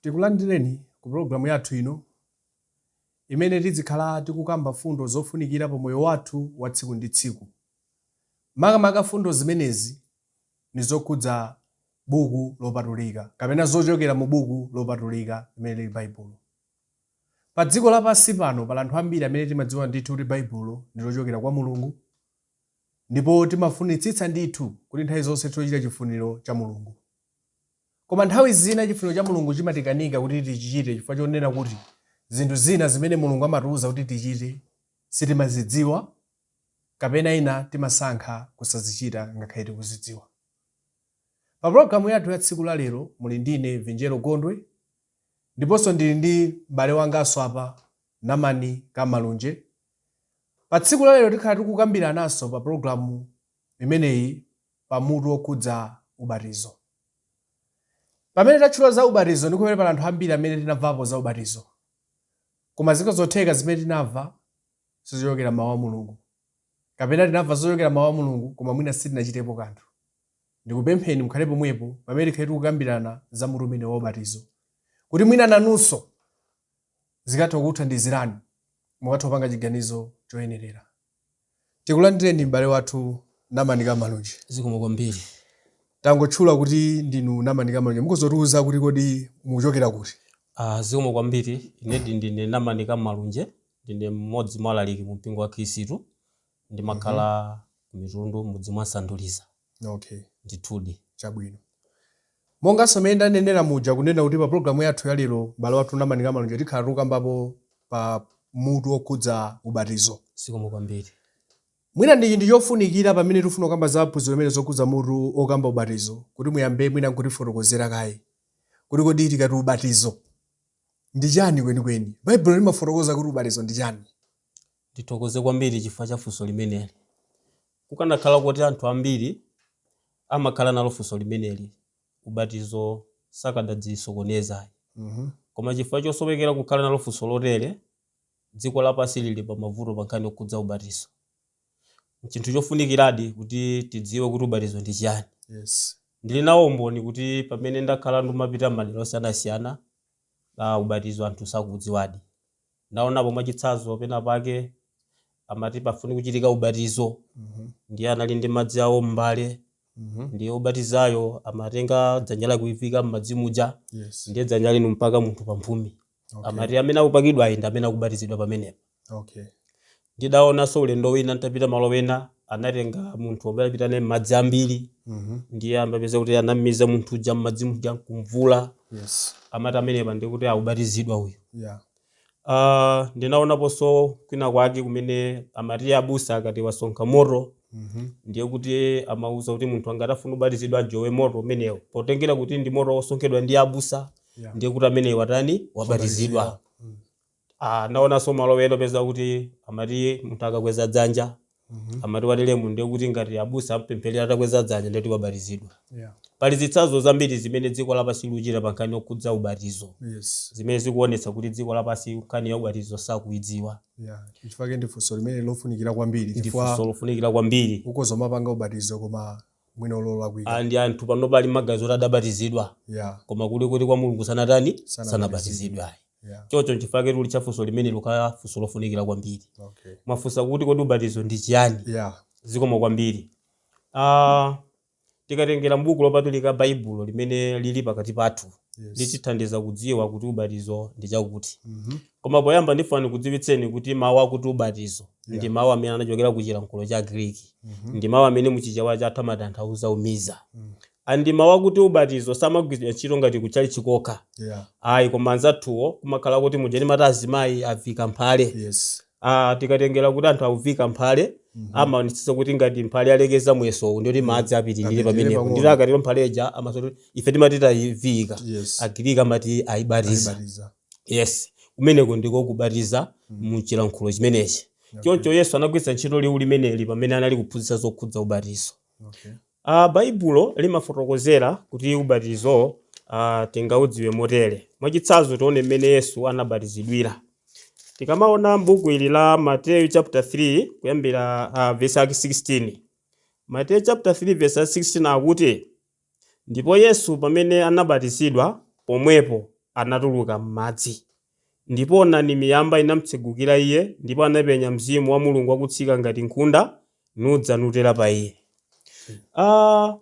Tikulandireni ku pologalamu yathu ino imene tidzikhala tikukamba fundo zofunikira pa moyo wathu wa tsiku ndi tsiku. Makamaka fundo zimenezi nizokhudza buku lopatulika kapena zochokera mu buku lopatulika limene liri Baibulo. Padziko lapansi pano pali anthu ambiri amene timadziwa ndithu kuti Baibulo ndilochokera kwa Mulungu Ndipo timafunitsitsa ndithu kuti nthawi zonse tizichita chifuniro cha Mulungu. Koma nthawi zina chifuniro cha Mulungu chimatikanika kuti tichichite chifukwa chonena kuti zinthu zina zimene Mulungu amatiuza kuti tichite sitimazidziwa kapena ina timasankha kusazichita ngakhale tikuzidziwa. Pa pulogalamu yathu ya tsiku la lero muli ndine Vinjero Gondwe. Ndiponso ndili ndi m'bale wanganso apa, Namani Kamalunje. Pa tsiku la lero tikhala tikukambirananso pa pulogalamu imeneyi pa mutu wokhudza ubatizo. Pamene tatchula za ubatizo ndi pamene pali anthu ambiri amene tinamvapo za ubatizo. Koma zikhoza kutheka zimene tinamva sizochokera m'Mawu a Mulungu. Kapena tinamva zochokera m'Mawu a Mulungu koma mwina sitinachitepo kanthu. ndikupempheni mukhale pomwepo pamene tikhale tikukambirana za mutu umenewu wa ubatizo, kuti mwina nanunso zikatha kukuthandizirani, mukatha kupanga chiganizo choyenerera. Tikulandireni m'bale wathu Namani Kamalunje. Zikomo kwambiri. Tangotchula kuti ndinu Namani Kamalunje, mukhozotiuza kuti kodi mukuchokera kuti? Ah, zikomo kwambiri. Inedi ndine Namani Kamalunje, ndine mmodzi mwa alaliki mu mpingo wa Khristu. ndimakhala ku Mitundu m'mudzi mwa Sanduliza. Okay. Ndithudi. Chabwino. Monganso mmene ndanenera muja kunena kuti pa pulogalamu yathu ya lero m'bale wathu Namani Kamalunje tikhala tikukambapo pa mutu wokhudza ubatizo. Zikomo kwambiri. Mwina ndi chinthu chofunikira pamene tikufuna kukamba za phunziro limeneli zokhudza mutu wokamba ubatizo kuti muyambe mwina n'kutifotokozera kaye kuti kodi tikati ubatizo ndi chani kwenikweni. Baibulo limafotokoza kuti ubatizo ndi chani? Ndithokoze kwambiri chifukwa cha funso limeneli. Kukanakhala kuti anthu ambiri amakhala nalo funso limeneli, ubatizo sakadazisokoneza ayi. Koma chifukwa chosowekera kukhala nalo funso lotere, dziko lapansi lili pa mavuto pa nkhani yokhudza ubatizo. N'chinthu chofunikiradi kuti tidziwe kuti ubatizo ndi chiyani. Ndili nawo umboni kuti pamene ndakhala ndikumapita m'madera osiyanasiyana, ubatizo anthu sakuudziwadi. Ndaonapo mwachitsazo penapake amati pafunika kuchitika ubatizo ndiye anali ndi madzi awo m'mbale ndiye obatizayo amatenga dzanja lake kuliviika m'madzi muja Yes. ndiye dzanja lija n'kumpaka munthu pamphumi Okay. amati amene akupakidwayi ndi amene akubatizidwa pamenepo Okay. Ndidaonanso ulendo wina nditapita malo ena, anatenga munthu n'kupita naye pamadzi ambiri, ndiye umapeza kuti anam'miza munthu uja m'madzi muja n'kum'vula. Yes. Amati pamenepa ndiye kuti akubatizidwa uyu. Yeah. Ah, ndinaonaponso kwina kwake kumene amati abusa akati wasonkha moto, ndiye kuti amauza kuti munthu ngati afuna kubatizidwa ajowe moto umenewo. Potengera kuti ndi moto wosonkhedwa ndi abusa, Yeah. ndiye kuti ameneyo watani? Wabatizidwa. A, ndaonanso malo ena upeza kuti amati munthu akakweza dzanja Mhm. amati wateremo ndiye kuti ngati abusa ampempherera atakweza dzanja ndiye kuti wabatizidwa Yeah. pali zitsanzo zambiri zimene dziko lapansi likuchita pa nkhani yokhudza ubatizo Yes. zimene zikuonetsa kuti dziko lapansi nkhani ya ubatizo sakuidziwa Yeah. Chifukwa ndi funso limene lofunikira kwambiri ndi funso lofunikira kwambiri ukoza umapanga ubatizo koma mwina olo olakwika Ah, ndi anthu panopa ali maganizo oti adabatizidwa yeah koma kuli kuti kwa mulungu sanatani Sanabatizidwe. sanabatizidwe ayi yeah chocho nchifukwa chake tulitcha funso limeneli kukhala funso lofunikira kwambiri okay mwafunsa kuti kodi ubatizo ndi chiyani yeah zikomo kwambiri ah, tikatengera mbuku lopatulika baibulo limene lili pakati pathu yes litithandiza kudziwa kuti ubatizo ndi chakuti mhm Koma poyamba ndifuna ndikudziwitseni kuti mawu akuti ubatizo ndi Yeah. mawu amene anachokera ku chilankhulo cha Greek. Mhm. Ndi mawu amene mu Chichewa chathu amatanthauza umiza. Mm. A ndiye mawu akuti ubatizo samagwiritsidwa ntchito ngati ku tchalitchi kokha. Yeah. Ayi koma anzathuwo kumakhala kuti muja timati azimayi avika mphale. Yes. Ah, tikatengera kuti anthu akuvika mphale Mhm. amaonetsetsa kuti ngati mphale alekeza muyeso wake ndi woti madzi apitirire Apitirire pamenepo. pang'ono. Ndiye akatero mphale ija amanenanso kuti ife timati tayivika. Yes. Agiriki amati ayibatiza. Ayibatiza. yes kumeneko ndiko kubatiza Mm. mu chilankhulo chimenechi Okay. choncho yesu anagwiritsa ntchito liwu limeneli pamene anali kuphunzitsa zokhudza ubatizo Okay. Ah, baibulo limafotokozera kuti ubatizo ah, tingaudziwe motere mwachitsanzo tione mmene yesu anabatizidwira tikamaona m'buku ili la mateyu chapter 3 kuyambira ah, verse yake 16 mateyu chapter 3 verse yake 16 akuti Ndipo Yesu, pamene anabatizidwa, pomwepo anatuluka m'madzi. Ndipo onani, miyamba inamtsegukira Iye, ndipo anapenya Mzimu wa Mulungu wakutsika ngati nkhunda, nudza nutera pa Iye. A.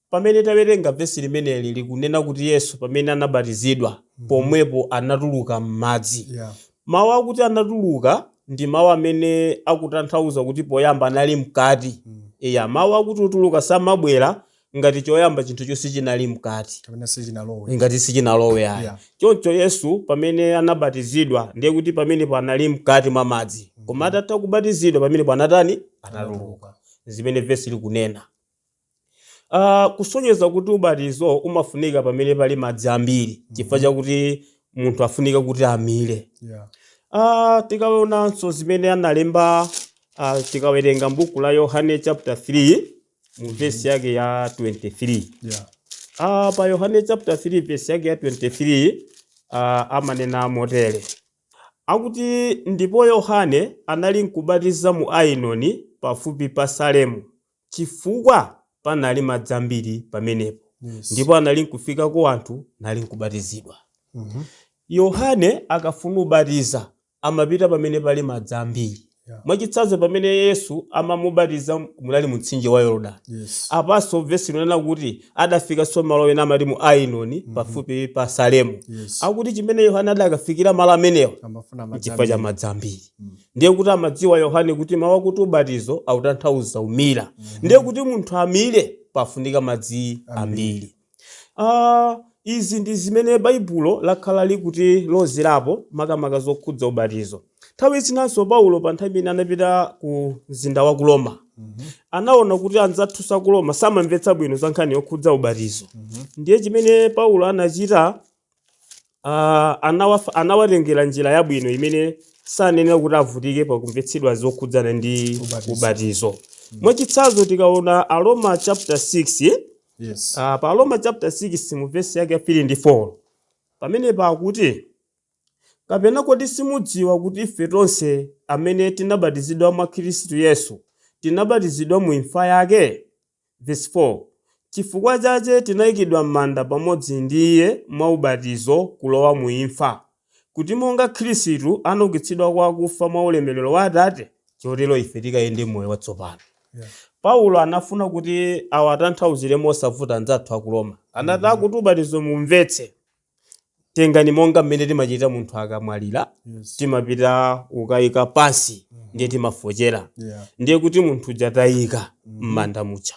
Pamene tawerenga vesi limeneli likunena kuti Yesu, pamene anabatizidwa, pomwepo anatuluka m'madzi. Yeah. Mawu akuti anatuluka ndi mawu amene akutanthauza kuti poyamba anali mkati. Eya, mawu akuti utuluka samabwera ngati choyamba chinthucho sichinali mkati, kapena sichinalowe. ngati sichinalowe ayi. Yeah. Choncho Yesu pamene anabatizidwa ndiye kuti pamenepo anali mkati mwa madzi. Koma atatha kubatizidwa pamenepo anatani? Anatuluka. Zimene vesi likunena. A, kusonyeza kuti ubatizo umafunika pamene pali madzi ambiri chifukwa chakuti munthu afunika kuti amire. Yeah. A, tikaonanso zimene analemba a, tikawerenga m'buku la Yohane chapter 3 mu vesi yake ya 23. Yeah. Ah, pa Yohane chapter 3 verse yake ya 23 ah, amanena motere akuti ndipo Yohane anali nkubatiza mu Ainoni pafupi pa Salemu cifukwa panali madzi ambili pamenepo, Yes. ndipo analinkufikako anthu nalinkubatizidwa. Mhm. Yohane akafuna ubatiza amapita pamene pali madzi ambili. Yeah. Mwacitsanzo pamene Yesu amamubatiza munali mumtsinje wa Yorodani. Yes. Apanso vesi likunena kuti adafikanso malo ena amati mu Ainoni pafupi pa Salemu. Yes. Akuti cimene Yohane adakafikira malo amenewo Amafuna madzi cifukwa ca ambiri. madzi ambili. ndiye kuti amadziwa yohane kuti mawu akuti ubatizo akutanthauza umira ndiye kuti munthu amire pafunika madzi ambiri Ah, izi ndi zimene baibulo lakhala likutilozerapo makamaka zokhudza ubatizo nthawi zinanso paulo pa nthawi imene anapita ku mzinda wa ku roma anaona kuti anzathu a ku roma samamvetsa bwino za nkhani yokhudza ubatizo ndiye chimene paulo anachita uh, anawaf, anawatengera njira yabwino imene sanenera kuti avutike pakumvetsedwa zokhudzana ndi Ubatizo. ubatizo mwachitsanzo tikaona aroma chapter 6 eh? yes uh, pa aroma chapter 6 mu vesi yake ya 3 ndi 4 pamene pakuti kapena kodi simudziwa kuti ife tonse amene tinabatizidwa mwa khristu yesu tinabatizidwa mu imfa yake Vesi 4, Cifukwa cace tinaikidwa m'manda pamodzi ndi iye mwa ubatizo kulowa muimfa, kuti monga Kristu anaukitsidwa kwa akufa mwa ulemerero wa Atate, cotero ife tikayende m'moyo watsopano. Paulo anafuna kuti awatanthauzire mosavuta anzathu a ku Roma. Anati, kuti ubatizo muumvetse. tengani monga mmene timachita munthu akamwalira Yes. timapita kukayika pansi ndiye timafochera Yeah. ndiye kuti munthu uja tamuyika m'manda muja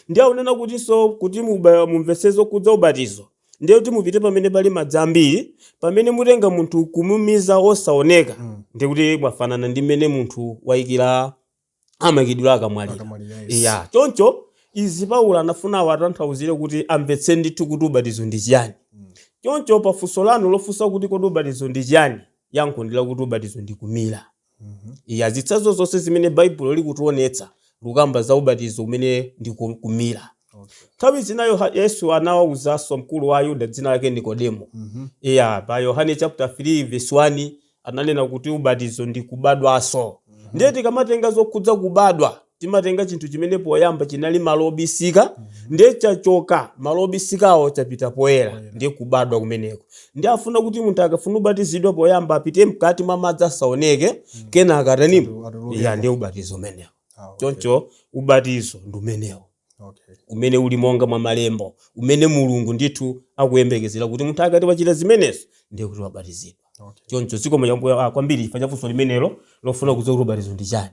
ndiye akunena kutinso kuti muba- mumvetse zokhudza ubatizo ndiye kuti mupite pamene pali madzi ambiri pamene mutenga munthu kumumiza osaoneka Mm. ndiye kuti mwafanana ndi mmene munthu wayikira amaikidwira akamwalira Akamwalira, yes. ya choncho izi paulo anafuna awatanthauzire kuti amvetse ndithu kuti ubatizo ndi chiyani choncho pafunso lanu lofunsa kuti kodi ubatizo ndi chiyani yankho ndi lakuti ubatizo ndi kumira iya zitsanzo zonse zimene baibulo likutionetsa lukamba za ubatizo umene ndi ku- kumira nthawi zina Yoha- yesu anawawuzanso mkulu wa ayuda dzina lake nikodemo iya pa yohane chapter 3 verse 1 ananena kuti ubatizo ndi kubadwaso ndiye tikamatenga zokhudza kubadwa timatenga chinthu chimene poyamba chinali malo obisika ndiye chachoka malo obisikawo chapita poyera ndiye kubadwa kumeneko ndiye afuna kuti munthu akafuna kubatizidwa poyamba apite mkati mwa madzi asaoneke kenaka atanimo Atuluke. ya ndiye ubatizo umenewo Ah, okay. choncho ubatizo ndi umenewo Okay. umene uli monga mwa malembo umene mulungu ndithu akuyembekezera kuti munthu akati wachita zimenezo ndiye kuti wabatizidwa Okay. choncho zikomo chabwino ah, kwambiri chifukwa cha funso limenelo lofuna kudziwa kuti ubatizo ndi chani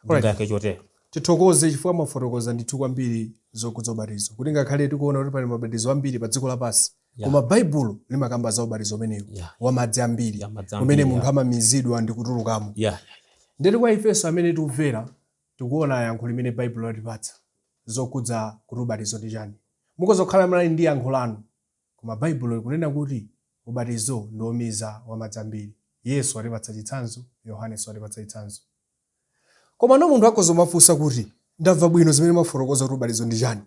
ndingayakhe chotero tithokoze chifukwa mwafotokoza ndithu kwambiri zokhudza ubatizo kuti ngakhale tikuona kuti pali mabatizo ambiri pa dziko lapansi Yeah. koma baibulo limakamba za ubatizo umenewo Yeah. wa madzi ambiri Ya madzi umene ambiri, munthu yeah. amamizidwa ndi kutulukamo yeah. ndeti kwa ifenso amene tikumvera Tikuona yankho limene Baibulo latipatsa zokhudza kuti ubatizo ndi chani. Mukhoza kukhala munali ndi yankho lanu, koma Baibulo likunena kuti ubatizo ndi womiza wamadzi ambiri. Yesu watipatsa chitsanzo, Yohanenso watipatsa chitsanzo. Komano munthu akhoza kumafunsa kuti, Ndamva bwino zimene mwafotokoza kuti ubatizo ndi chani.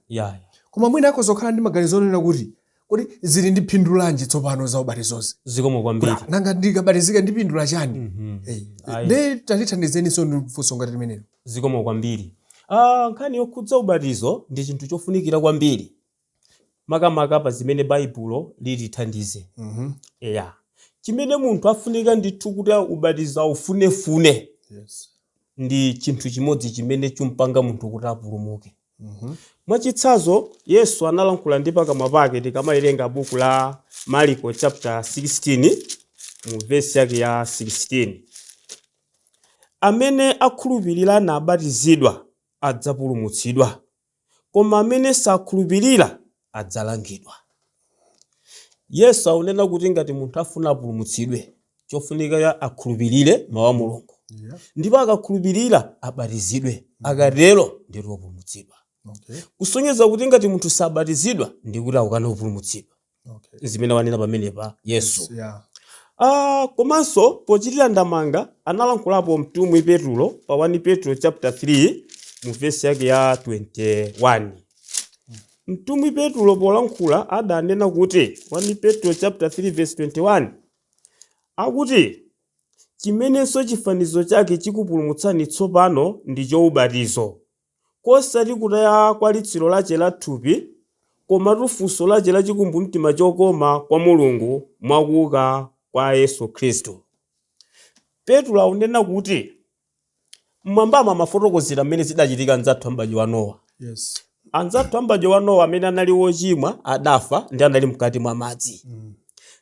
Koma mwina akhoza kukhala ndi maganizo onena kuti, Kodi zili ndi phindu lanji tsopano za ubatizozi? Zikomo kwambiri. Kuti, nanga ndikabatizika ndipindula chani? Mm -hmm. Hey. Eh, nde tandithandizeninso ndi funso ngati limenelo. Zikomo kwambiri. Ah, nkhani yokhudza ubatizo ndi chinthu chofunikira kwambiri makamaka pa zimene Baibulo litithandize. Mm -hmm. Yeah. Chimene munthu afunika ndithu kuti ubatizo aufunefune. Yes ndi chinthu chimodzi chimene chumpanga munthu kuti apulumuke. Mwachitsanzo, Yesu analankhula ndi pakamwa pake tikamawerenga buku la Mariko chapter 16 mu vesi yake ya 16. Amene akhulupirira nabatizidwa adzapulumutsidwa, koma amene sakhulupirira adzalangidwa. Yesu akunena kuti ngati munthu afuna apulumutsidwe, chofunika ya akhulupirire mawu a Mulungu. Yeah. Ndipo akakhulupirira abatizidwe. Akatero ndiye wopulumutsidwa. Okay. Kusonyeza kuti ngati munthu sabatizidwa nde kuti akukana kupulumutsidwa. Okay. Zimene wanena pamenepa Yesu. Yeah. Ah, komanso pochitira ndemanga analankhulapo mtumwi Petulo pa 1 Petulo chapter 3 mu vesi yake ya 21. Mtumwi Petulo polankhula adanena kuti 1 Petro chapter 3 verse 21 akuti chimenenso chifanizo chake chikupulumutsani tsopano ndicho ubatizo, kosati kutaya kwa litsiro lache la thupi, komatu funso lache la chikumbumtima chokoma kwa Mulungu mwa kuuka kwa Yesu Khristu. Petulo akunena kuti. M'mwambamu amafotokozera mmene zidachitika anzathu a m'badwo wa Nowa. Yes. Anzathu a m'badwo wa Nowa amene anali ochimwa adafa ndi anali mkati mwa madzi. Mm.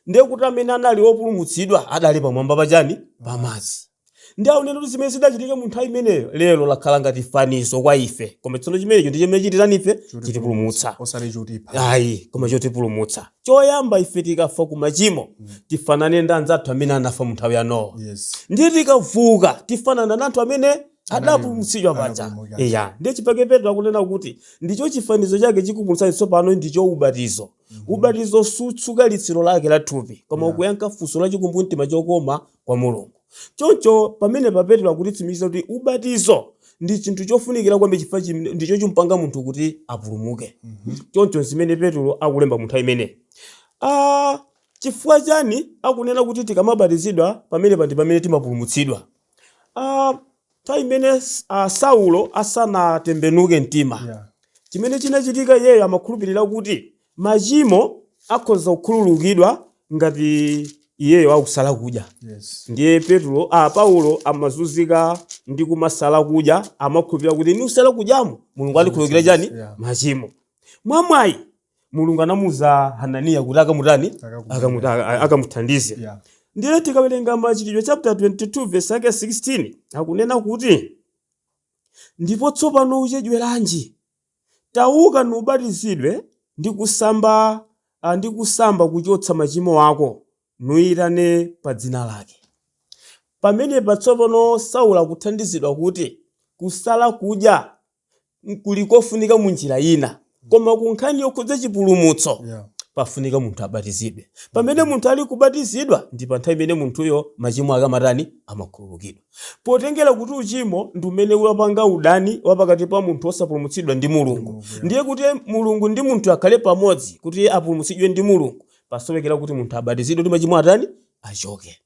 Ndiye kuti amene anali opulumutsidwa adali pamwamba pa chani? Pa madzi. Ndiye akunena kuti zimene zidachitika mu nthawi imeneyo lero lakhala ngati fanizo kwa ife. Koma tsono chimenecho ndi chimene chititani ife? Chitipulumutsa. Chitipulumutsa. Osati chotipha. Ayi, koma chotipulumutsa. Choyamba, ife tikafa ku machimo, tifanane ndi anzathu amene anafa mu nthawi ya Nowa. Yes. Ndiye tikavuka, tifanana na anthu amene adapulumutsidwa paja. Anapulumuka. Eya, ndiye chipake Petro akunena kuti ndicho chifanizo chake chikupulumutsani tsopano ndicho ubatizo. Ubatizo sutsuka litsiro lake la thupi, koma ukuyankha funso la chikumbumtima chokoma kwa Mulungu. Choncho, pamenepa Petro akutitsimikizira kuti ubatizo ndi chinthu chofunikira kwambiri chifukwa chim- ndicho chimpanga munthu kuti apulumuke. Choncho zimene Petro akulemba mu nthawi imeneyi. Ah, chifukwa chani akunena kuti tikamabatizidwa pamenepa ndi pamene timapulumutsidwa? Ah, Nthawi imene Saulo asanatembenuke mtima, chimene chinachitika iyeyo amakhulupirira kuti machimo akhoza kukhululukidwa ngati iyeyo akusala kudya. Ndiye Petulo, a, Paulo amazunzika ndi kumasala kudya, amakhulupirira kuti nikusala kudyamo Mulungu andikhululukira chani? Machimo. Mwamwayi, mulungu anamuuza hananiya kuti akamutani Akamuthandize. Akamuti- aka- aka- akamuthandize Yeah. ndiye tikawerenga machitidwe chapter 22 verse yake 16 akunena kuti ndipo tsopano uchedweranji tauka nubatizidwe ndi kusamba ah, ndi kusamba kuchotsa machimo ako nuyitane pa dzina lake pamenepa tsopano saulo akuthandizidwa kuti kusala kudya kuli kofunika mu njira ina koma ku nkhani yokhudza chipulumutso Yeah. pafunika munthu abatizidwe pamene munthu ali kubatizidwa ndi pa nthawi imene munthuyo machimo ake amatani amakhululukidwa potengera kuti uchimo ndi umene wapanga udani wa pakati pa munthu wosapulumutsidwa ndi mulungu ndiye kuti mulungu ndi munthuyo akhale pamodzi kuti apulumutsidwe ndi mulungu pasowekera kuti munthu abatizidwe kuti machimo atani achoke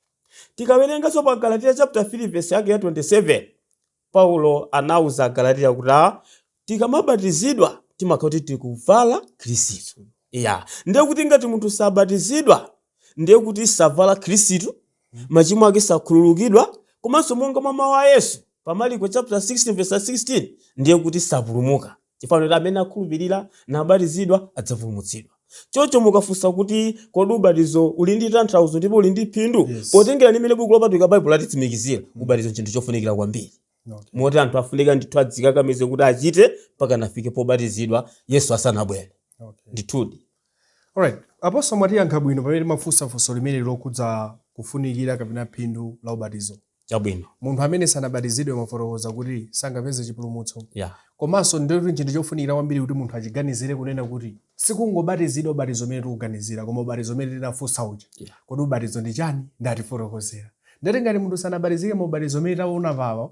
tikawerenganso pa galatiya chapter 3 verse yake ya 27 Paulo anauza Agalatiya kuti a, tikamabatizidwa timakhala kuti tikuvala Khristu. Eya, ndiye kuti ngati munthu sabatizidwa ndiye kuti savala Khristu, machimo ake sakhululukidwa komanso monga mwa mawu a Yesu pa Maliko chapter 16 verse 16 ndiye kuti sapulumuka. Chifukwa kuti amene akhulupirira nabatizidwa adzapulumutsidwa. Choncho mukafunsa kuti kodi ubatizo uli ndi tanthauzo ndipo uli ndi phindu, Yes. potengera ndi mmene Buku Lopatulika Baibulo latitsimikizira, ubatizo n'chinthu chofunikira kwambiri. Okay. Moti anthu afunika ndithu adzikakamize kuti achite mpaka nafike pobatizidwa Yesu asanabwere. Okay. Ndithudi. Alright, Apostle mwatiyankha bwino pamene timafunsa funso limeneli lokhudza kufunikira kapena phindu la ubatizo. Chabwino. Munthu amene sanabatizidwe mwafotokoza kuti sangapeze chipulumutso. Yeah. Komanso ndiye kuti n'chinthu chofunikira kwambiri kuti munthu achiganizire kunena kuti si kungobatizidwa ubatizo umene tikuuganizira koma ubatizo umene tinafunsa uja. Yeah. Kodi ubatizo ndi chani? Ndiye mwatifotokozera. Ndiye kuti ngati munthu sanabatizike mu ubatizo umene taona apapa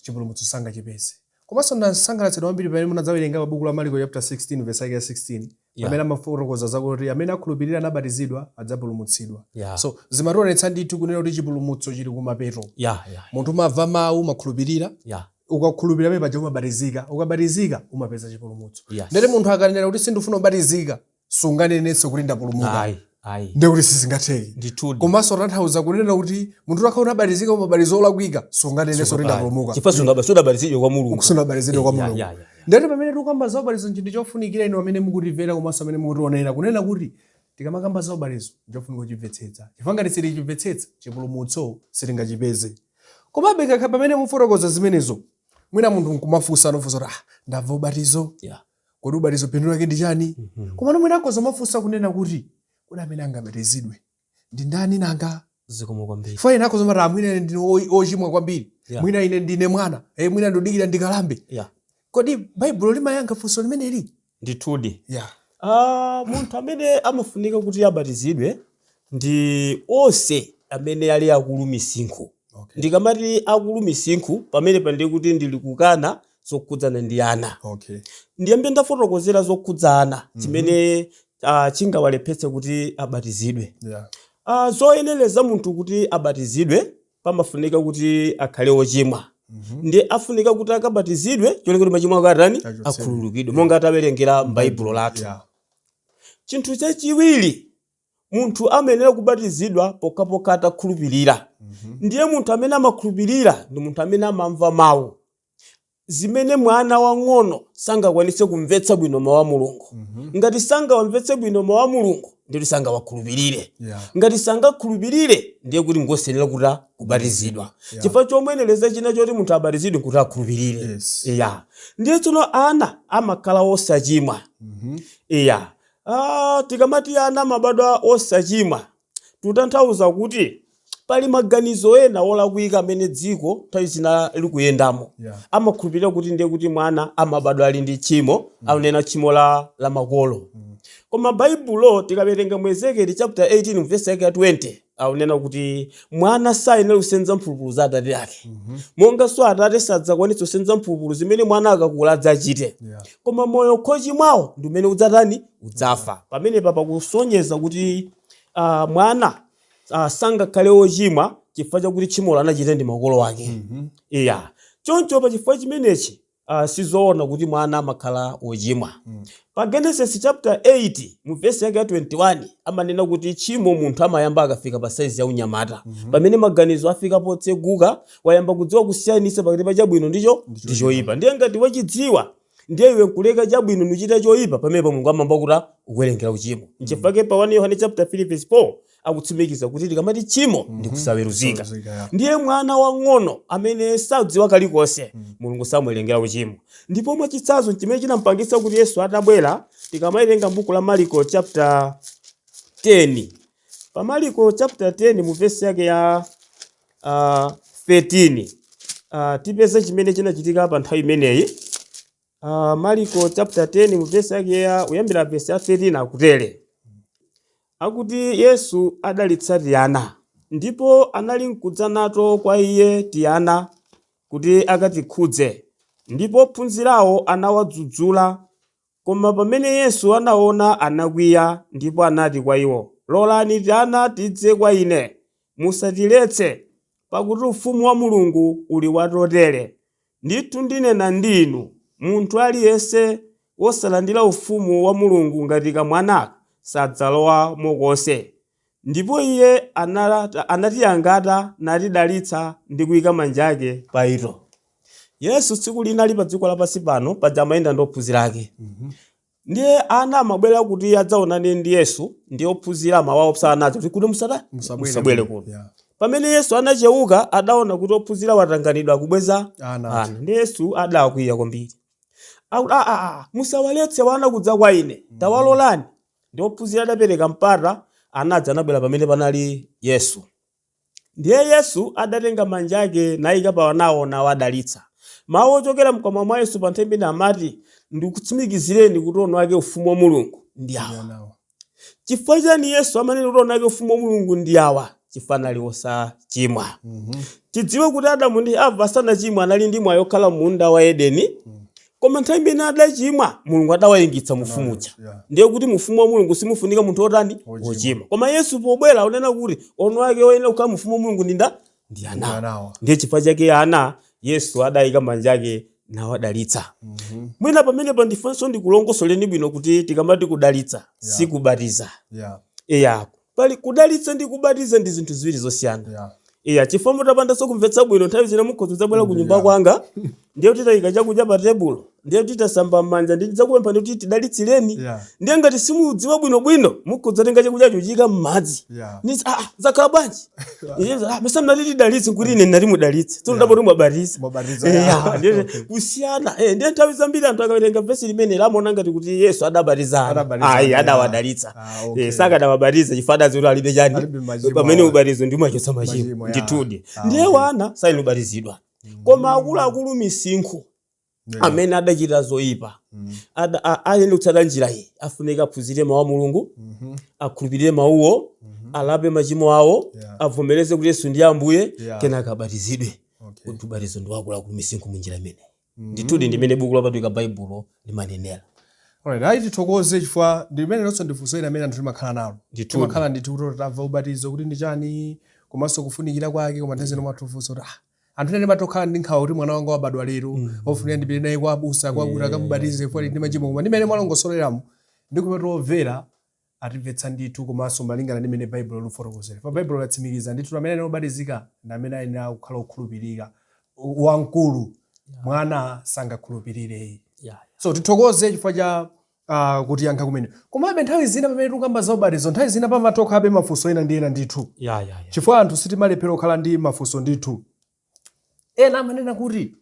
chipulumutso sangachipeze. Komanso ndasangalatsidwa kwambiri pamene munadzawerenga pa buku la Maliko chapter 16 verse yake ya 16 Yeah. pamene amafotokoza zakuti amene akhulupirira nabatizidwa adzapulumutsidwa. Yeah. So zimationetsa ndithu kunena kuti chipulumutso chili kumapeto. Yeah, yeah, Munthu umamva mawu umakhulupirira yeah. ukakhulupirira pamene paja umabatizika ukabatizika umapeza chipulumutso Yes. ndiye kuti munthu akanena kuti sindifuna kubatizika sunganenenso kuti ndapulumuka ayi ayi ndiye kuti sizingatheke ndithudi komanso zikutanthauza kunena kuti munthu utakhala unabatizika mu ubatizo olakwika sunganenenso kuti ndapulumuka chifukwa sungaba sunabatizidwe kwa mulungu sunabatizidwe kwa Ya, ya, mulungu ya, ya. ndiye kuti pamene tikukamba za ubatizo nchinthu chofunikira inu amene mukutimvera komanso amene mukutionera kunena kuti tikamakamba za ubatizo nchofunika kuchimvetsetsa chifukwa ngati sitichimvetsetsa chipulumutso sitingachipeze komabe kaya pamene mufotokoza zimenezo mwina munthu nkumafunsa ndinafunsa kuti ah ndamva ubatizo Yeah. kodi ubatizo phindu lake ndi chani mhm. komano mwina akhoza kumafunsa kunena kuti kodi amene angabatizidwe ndi ndani nanga zikomo kwambiri poti ena akhoza kumati mwina ine ndine ochimwa kwambiri mwina ine ndine mwana e mwina ndidikire ndikalambe yeah. kodi baibulo limayankha funso limeneli ndithudi yeah. uh, munthu amene amafunika kuti abatizidwe ndi onse amene ali akulu misinkhu. Okay. Ndikamati akulu misinkhu pamenepa ndiye kuti ndili kukana zokhudzana ndi ana. Okay. Ndiyambe ndafotokozera zokhudza ana mm -hmm. chimene uh, chingawalepheretse kuti abatizidwe. Yeah. Uh, zoyenereza munthu kuti abatizidwe pamafunika kuti akhale ochimwa. Mm -hmm. ndiye afunika kuti akabatizidwe cholinga kuti machimo ake atani akhululukidwe monga atiwerengera m'baibulo lathu. Yeah. Chinthu chachiwiri Munthu amayenera kubatizidwa pokhapokha atakhulupilira. Ndiye munthu amene amakhulupilira ndi munthu amene amamva Mau, zimene mwana wang'ono sangakwanitse kumvetsetsa bwino Mau a Mulungu. Ngati sangawamvetsetse bwino Mau a Mulungu, ndiye kuti sangawakhulupilire. Ngati sangakhulupilire, ndiye kuti ngosayenera kuti kubatizidwa. Chifukwa chomuyenereza china choti munthu abatizidwe nkuti akhulupilire. Eya. Ndiye tsono ana amakhala osachimwa. Eya. Aaa tikamati ana amabadwa osachimwa tikutanthauza kuti pali maganizo ena olakwika amene dziko nthawi zina likuyendamo. Yeah. Amakhulupirira kuti ndiye kuti mwana amabadwa ali ndi tchimo, akunena tchimo la la makolo. Koma Baibulo tikawerenga mu Ezekieli chapter 18 verse yake ya 20 akunena kuti mwana sayenera kusenza mphulupulu za atate ake monganso atate sadzakwanitsa kusenza mphulupulu zimene mwana akakula adzachite Yeah. koma moyo wochimwawo ndi umene udzatani udzafa pamenepa pakusonyeza kuti ah, mwana ah, sangakhale wochimwa chifukwa chakuti tchimolo anachita ndi makolo ake iya choncho pa chifukwa chimenechi Ah, si zoona kuti mwana amakhala wochimwa. Pa Genesis chapter 8 mu verse yake ya 21 amanena kuti tchimo munthu amayamba akafika pa saizi ya unyamata. Pamene maganizo afika potseguka, wayamba kudziwa kusiyanitsa pakati pa chabwino ndi cho ndi choyipa. Ndiye ngati wachidziwa ndiye iwe nkuleka chabwino nuchita choyipa pamenepa Mulungu amayamba kutani kukuwerengera uchimo. Nchifukwa pa 1 Yohane chapter 3 verse 4 akutsimikiza kuti tikamati tchimo ndi kusaweruzika Saweruzika, yeah. ndiye mwana wang'ono amene sadziwa kalikonse mulungu samuwerengera uchimo ndipo mwachitsanzo chimene chinampangitsa kuti yesu atabwera tikamawerenga buku la mariko chapter 10 pa mariko chapter 10 mu vesi yake ya uh, 13 uh, tipeza chimene chinachitika pa nthawi imeneyi Uh, Mariko chapter 10 mu verse yake ya kuyambira verse ya 13 akutere akuti Yesu adalitsa tiana ndipo anali nkudza nato kwa iye tiana kuti akatikhudze ndipo ophunzirawo anawadzudzula koma pamene Yesu anaona anakwiya ndipo anati kwa iwo lolani tiana tidze kwa ine musatiletse Pakuti ufumu wa Mulungu uli wa totere. Ndithu ndinena ndi inu, Munthu aliyense wosalandira ufumu wa Mulungu ngati kamwana, sadzalowamo konse. Ndipo iye anatiyangata natidalitsa ndi kuika manja ake pa ito. Yesu tsiku lina ali pa dziko lapansi pano, paja amayenda ndi ophunzira ake, Ndiye ana amabwera kuti adzaonane ndi Yesu, ndiye ophunzira amawaopsa ana aja kuti kuti musata- Musabwere musabwere kuno. kuno. Yeah. Pamene Yesu anacheuka, adaona kuti ophunzira atanganidwa kubweza Ana aja. ana. Ndiye Yesu adakwiya kwambiri. Akuti, "Ah, ah, ah, musawaletse wana kudza kwa ine, tawalolani. Ndiye ophunzira adapereka mpata, ana aja anabwera pamene panali Yesu. Ndiye Yesu adatenga manja ake naika pa anawo nawadalitsa. Mawu ochokera mkamwa mwa Yesu pa nthawi imeneyi amati, Ndikutsimikizireni kuti eni ake Ufumu wa Mulungu ndi awa. Chifukwa chiyani Yesu amanena kuti eni ake Ufumu wa Mulungu ndi awa? Chifukwa anali wosachimwa. Tidziwe kuti Adamu ndi Hava asanachimwe anali ndi mwayi wokhala m'munda wa Edeni. Koma nthawi imene adachimwa, Mulungu adawaingitsa m'ufumu uja. yeah. Ndiye kuti mu ufumu wa Mulungu simufunika munthu wotani? Wochimwa. Wochimwa. Koma Yesu pobwera akunena kuti eni ake oyenera kukhala mu ufumu wa Mulungu ndi ndani? Ndi ana. Anawa. Ndiye chifukwa chake ana, Yesu adayika manja ake nawadalitsa. Mhm. Mwina pamenepa ndifunenso ndikulongosoleni bwino kuti tikamati kudalitsa, Yeah. sikubatiza. Yeah. Eya, Pali, kudalitsa ndi kubatiza ndi zinthu ziwiri zosiyana. Yeah. Iya, chifukwa mutapandanso kumvetsa bwino nthawi zina mukhoza kubwera ku nyumba kwanga ndiye kuti tayika chakudya pa tebulo ndiye kuti tasamba m'manja ndi tidzakupempha kuti tidalitsireni Yeah. ndiye ngati simudziwa bwino bwino mukhoza kutenga chakudya n'kuika m'madzi Yeah. Nitsi, ah, ah, zakhala bwanji Iye, ah, mesa mnati tidalitse Ai ine ndinati mudalitse tsono ndapeza kuti mwabatiza Mwabatiza, Eh, yeah. ah, ndiye- Okay. kusiyana eh, ndiye nthawi zambiri anthu akawerenga vesi limeneli amaona ngati kuti yesu adabatiza ana. Adabatiza ana, ayi yeah. adawadalitsa Ah, okay. Eh, sakadawabatiza chifukwa adadziwa kuti alibe chani Alibe machimo pamene awa. ubatizo ndi wochotsa machimo Machimo, ya. ndithudi Ah, ndiye okay. wana sayenera kubatizidwa koma akuluakulu misinkhu Yeah. amene adachita zoyipa Mm. Ada- a- ayenera kutsata njira iyi afunika aphunzire mawu a mulungu Mhm. akhulupirire mawuwo Mhm. alape machimo awo Yeah. avomereze kuti yesu ndiye ambuye Yeah. kenaka abatizidwe Okay. ndiye kuti ubatizo ndi wakuluakulu misinkhu mu njira imene ndithudi ndi mmene buku lopatulika baibulo limanenera Alright, ayi tithokoze chifukwa ndi limenelonso ndifunso lina limene anthu timakhala nalo Ndithudi. timakhala ndithu kuti tamva ubatizo kuti ndi chani komanso kufunikira kwake koma nthawi zina pamakhala mafunso kuti ah, anthu ena timatokhala ndi nkhawa kuti mwana wanga wabadwa lero ofunika ndipite naye kwa abusa kuti akamubatize chifukwa ali ndi machimo koma ndi mmene mwalongosoleramo ndiyesa kuti omvera atimvetsa ndithu komanso malingana ndi mmene Baibulo likufotokozera. Chifukwa Baibulo latsimikiza ndithu kuti amene ayenera kubatizika ndi amene ayenera kukhala okhulupirika. W- Wamkulu, Yeah. mwana sangakhulupirire iye. Yeah. So tithokoze chifukwa cha uh, kutiyankha kumene. Komabe nthawi zina pamene tikukamba za ubatizo, nthawi zina pamatokhalabe mafunso ena ndi ena ndithu. Yeah, yeah, yeah. Chifukwa anthu sitimalephera kukhala ndi mafunso ndithu. Ena amanena kuti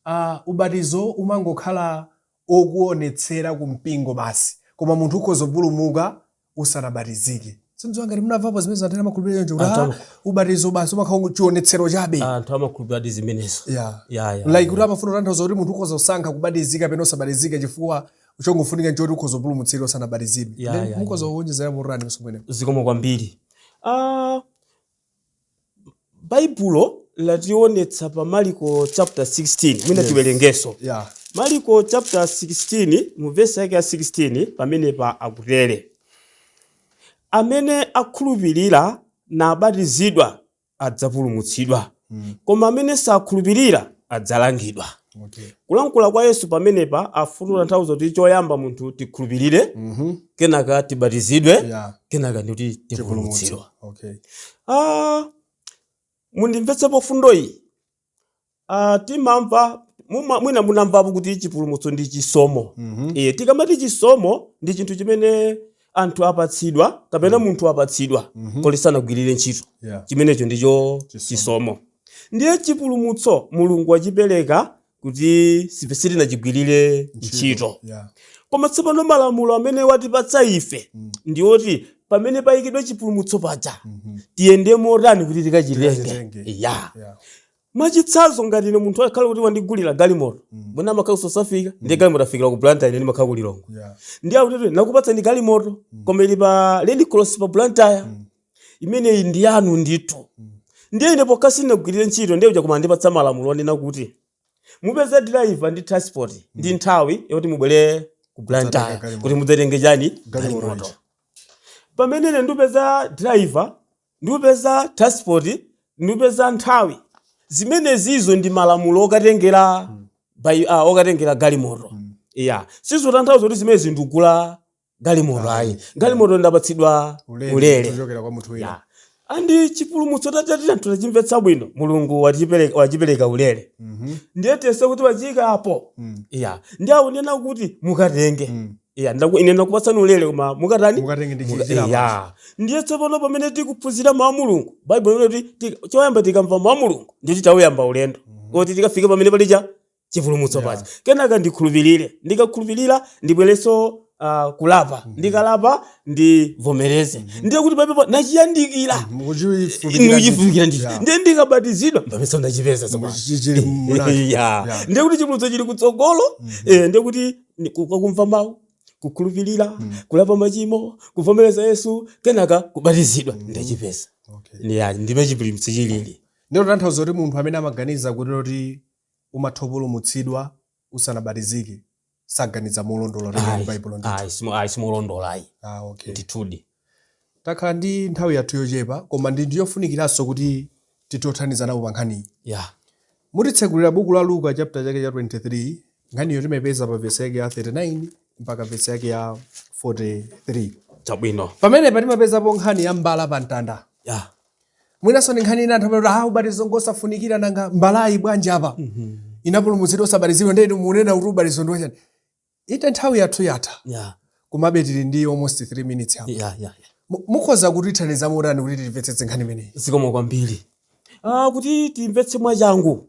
a. Ubatizo umangokhala okuonetsera ku mpingo basi, koma munthu ukhoza kupulumuka usanabatizike. Sindidziwa ngati munamvapo zimenezo anthu ena amakhulupirira choncho kuti Anthu ah, amakhu- ubatizo basi umakhala ungo- chionetsero chabe. anthu amakhulupiriradi zimenezo Yeah. Ya, ya, like ya. kuti amafuna kutanthauza kuti munthu ukhoza kusankha kubatizika kapena osabatizika chifukwa chongofunika nchoti ukhoza kupulumutsidwa usanabatizidwe. Ya, Then ya, mukhoza kuonjezera motani achimwene. zikomo kwambiri ah, Baibulo lationetsa pa Maliko chapter 16. Mwina Yes. tiwerengenso. Yeah. Maliko chapter 16 mu verse yake ya 16 pamenepa akutere. Amene akhulupirira nabatizidwa adzapulumutsidwa. Koma amene sakhulupirira adzalangidwa. Okay. Kulankhula kwa Yesu pamenepa afuna mm. kutanthauza kuti choyamba munthu tikhulupirire mm -hmm. kenaka tibatizidwe yeah. kenaka ndiye kuti tipulumutsidwa. Okay. Ah, mundimvetse pa mfundo iyi ah, timamva mwina munamvapo kuti chipulumutso ndi chisomo mm -hmm. E, tikamati chisomo ndi chinthu chimene anthu apatsidwa kapena munthu apatsidwa Mhm. koma sanagwirire ntchito Yeah. chimenecho ndicho Chisomo. chisomo ndiye chipulumutso mulungu wachipereka kuti sipe- sitinachigwirire ntchito Yeah. koma tsopano malamulo amene watipatsa ife Mm. ndi oti pamene payikidwa chipulumutso paja Mhm. tiyende motani kuti tikachitenge Tikachitenge. ya Yeah. mwachitsanzo ngati ine munthu akhala kuti wandigulira galimoto mwina amakhala ku South Africa ndiye galimoto afikira ku blantyre ine ndimakhala ku lilongwe Yeah. ndiye akuti ndakupatsani galimoto koma ili pa red cross pa blantyre imeneyi ndi yanu ndithu ndiye ine pokha sinagwirire ntchito ndiye uja koma wandipatsa malamulo onena kuti mupeze driver ndi transport ndi nthawi yoti mubwere ku blantyre galimoto. kuti mudzatenge chani Galimoto galimoto ija. pamene ine ndipeza driver ndikupeza transport ndikupeza nthawi zimenezizo ndi malamulo okatengera ah, okatengera galimoto ya sizotanthauza kuti zimenezi ndikugula galimoto ayi galimoto ndapatsidwa ulere kuchokera kwa munthu wina ya and chipulumutso titati anthu tachimvetsa bwino mulungu watipereka- wachipereka ulere Mhm. ndiye tiyese kuti wachiyika apo Mm. ya ndiye akunena kuti mukatenge Mm. Iya, ndaku, ine ndakupatsani ulere koma mukatani mukatenge ndi Muka- chija iya. ndiye tsopano pamene tikuphunzira mawu a mulungu baibulo limati ti- choyamba tikamva mawu a mulungu ndiye kuti tauyamba ulendo kuti tikafike pamene paikidwa chipulumutso Yeah. paja kenaka ndikhulupirire ndikakhulupirira ndibwerenso ah, kulapa ndikalapa ndivomereze ndiye kuti pamene pa- ndachiyandikira nuchifunikira ndi ndiye ndikabatizidwa mpamene ndachipeza tsopano Iya. ndiye kuti chipulumutso chili kutsogolo eh, ndiye kuti Kumva mawu, kukhulupirira, mm. kulapa machimo, kuvomereza Yesu, kenaka kubatizidwa mm. ndachipeza. Okay. Yeah, ndimmene chipulumutso chilili. Ndilo tanthauzo kuti munthu amene amaganiza kuti loti umatha kupulumutsidwa usanabatizike saganiza molondola ndi Baibulo ndithu. Ayi, simolondola ayi. Ah, okay. Ndithudi. Takhala ndi nthawi yathu yochepa koma ndi ndiyofunikiranso kuti tithe kuthandizana pa nkhaniyi. Yeah. Mutitsegulira buku la Luka chapter chake cha 23, nkhaniyo timaipeza pa vesi yake ya 39 mpaka vesi yake ya 43. Chabwino. Pamenepo timapezapo nkhani ya mbala pa mtanda. Yeah. Mwinanso ndi nkhani ina anthu amati ah ubatizo ngosafunikira nanga mbalayi bwanji apa? Inapulumutsidwa osabatizidwa ndiye inu munena kuti ubatizo ndi wachani? Ite nthawi yathu yatha. Yeah. Komabe tili ndi almost 3 minutes apa. Yeah, yeah, yeah. Mukhoza kutithandiza motani kuti timvetsetse nkhani imeneyi? Zikomo kwambiri. Ah, kuti timvetse mwachangu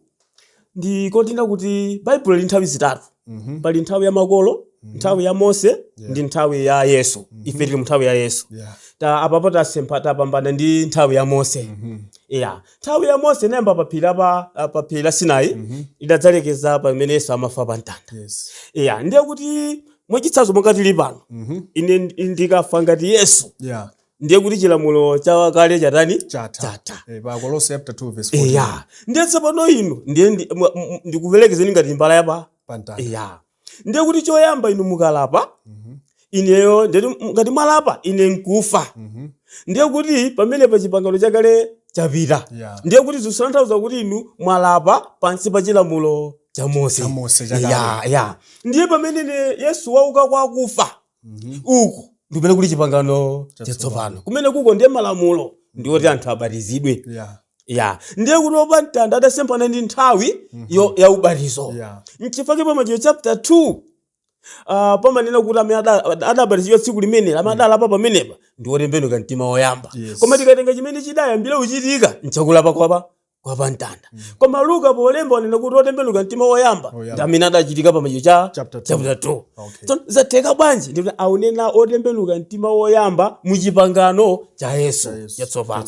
ndi kunena kuti Baibulo lili ndi nthawi zitatu. Mm -hmm. Pali nthawi ya makolo, mm -hmm. nthawi ya Mose, yeah. ndi nthawi ya Yesu. Mm -hmm. Ife tili mu nthawi ya Yesu. Yeah. Ta apapo tasempha tapambana ndi nthawi ya Mose. Mm -hmm. Yeah. Nthawi ya Mose inayamba pa phiri apa ah, pa phiri la Sinai Mhm. idadzalekeza pamene Yesu amafa pa mtanda. Yes. Iya, ndiye kuti mwachitsanzo monga tili pano. Mhm. Ine ndi- ndikafa ngati Yesu Yeah. ndiye kuti chilamulo cha kale chatani? Chatha. Chatha. Eh, pa Akolose chapter 2 verse 14. Iya. Ndiye tsopano inu ndiye ndi- mwa- m- m- ndikuperekezeni ngati mbala yapa. Pamtanda. Iya. ndiye kuti choyamba inu mukalapa ineyo ndiye kuti ngati mwalapa ine nkufa ndiye kuti pamene pa chipangano chakale chapita Yeah. ndiye kuti zikutanthauza kuti inu mwalapa pansi pa chilamulo cha mose Cha Mose chakale. ya ya ndiye pameneno yesu wauka kwa akufa Mhm. uku ndi kumene kuli chipangano Chatsopano. chatsopano kumene kuko ndiye malamulo ndiwoti anthu abatizidwe Yeah. ya ndiye kuti wa pa mtanda adasemphana ndi nthawi yo- ya ubatizo Yeah. nchifukwa chake pa machitidwe chapter 2 uh, amanena kuti amene ada- ada- adabatizidwa tsiku limeneli amene adalapa pamenepa ndi otembenuka mtima woyamba Yes. koma tikatenga chimene chidayambira kuchitika nchakulapa kwa wa pa mtanda mm. koma luka polemba akunena kuti otembenuka mtima woyamba ndi amene adachitika pa machitidwe chapter 2 okay. so, zatheka bwanji ndi kuti akunena otembenuka mtima woyamba mu chipangano cha yesu chatsopano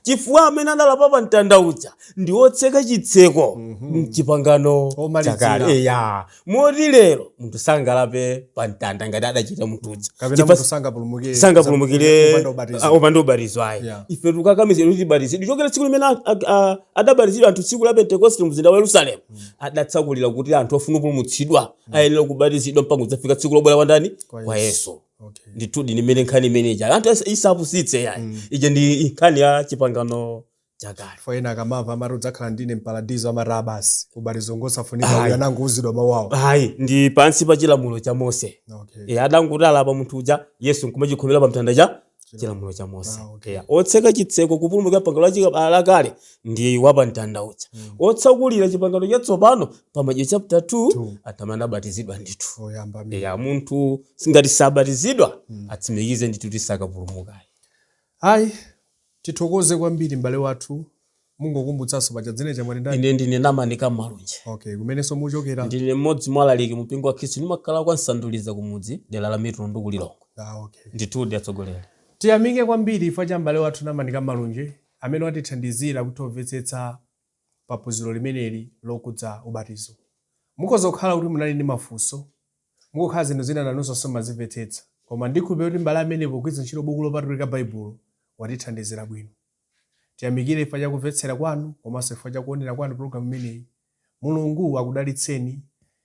chifukwa amene adalapa pa mtanda uja ndi otseka chitseko mm -hmm. mchipangano chakale eya moti lero munthu sangalape pa mtanda ngati adachita munthu uja kapena Chifukwa munthu sangapulumuke sangapulumukire kupanda ubatizo. ah, opanda ubatizo ayi Yeah. ife tikukakamizidwa kuti tibatizidwe kuchokera tsiku limene a- a- a- adabatizidwa anthu tsiku la pentekoste mzinda wa yerusalemu adatsakulira kuti anthu ofuna kupulumutsidwa ayenera kubatizidwa mpaka kudzafika tsiku lobwera kwa ndani Kwa kwa Yesu. yesu Okay. ndithudi ndiye nkhani imene ija anthu asa- isapusitse yayi ija ndi nkhani ya chipangano chakale chifukwa ena akamamva amati udzakhala ndine mparadizo amati ah basi ubatizo ngosafunika Ayi. uyu anangouzidwa mawu awo ayi ndi pansi pa chilamulo cha mose okay. e, adangoti alapa munthu uja yesu nkumachikhomera pa mtanda cha chilamulo cha mose Ah, okay. Eya, otseka chitseko kupulumukira pangano la chika- ah, lakale ndi wa pa mtanda uja Mm. otsakulira chipangano chatsopano pa Machitidwe chapter 2 Two. atamva anabatizidwa ndithu oyamba amene. eya munthu ngati sabatizidwa Mm. atsimikize ndithu kuti sakapulumuka ayi Tithokoze kwambiri m'bale wathu. Mungokumbutsanso paja dzina lija mwati ndani? Ine ndine Namani Kammalunje. Okay, kumenenso muchokera? Ndine mmodzi mwa alaliki mu mpingo wa Khristu ndimakhala kwa Msanduliza kumudzi dera la Mitundu ku Lilongwe. Ah, okay. Ndithudi atsogoleri. Tiyamike kwambiri chifukwa cha m'bale wathu Namani Kammalunje amene watithandizira kutha kumvetsetsa pa phunziro limeneli lokudza ubatizo. Mukhoza kukhala kuti munali ndi mafunso, mukhoza kukhala zinthu zina nanunso simumazimvetsetsa. Koma ndikhulupirira kuti m'bale ameneyu pogwiritsa ntchito buku lopatulika Baibulo watithandizira bwino. Tiyamikire chifukwa cha kumvetsera kwanu komanso chifukwa cha kuonera kwanu pulogalamu imeneyi. Mulungu akudalitseni.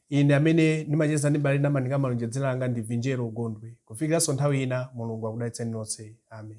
Ine amene ndimacheza ndi m'bale Namani Kammalunje dzina langa ndi Vinjero Gondwe. Kufikiranso nthawi ina, Mulungu akudalitseni nonse. Amen.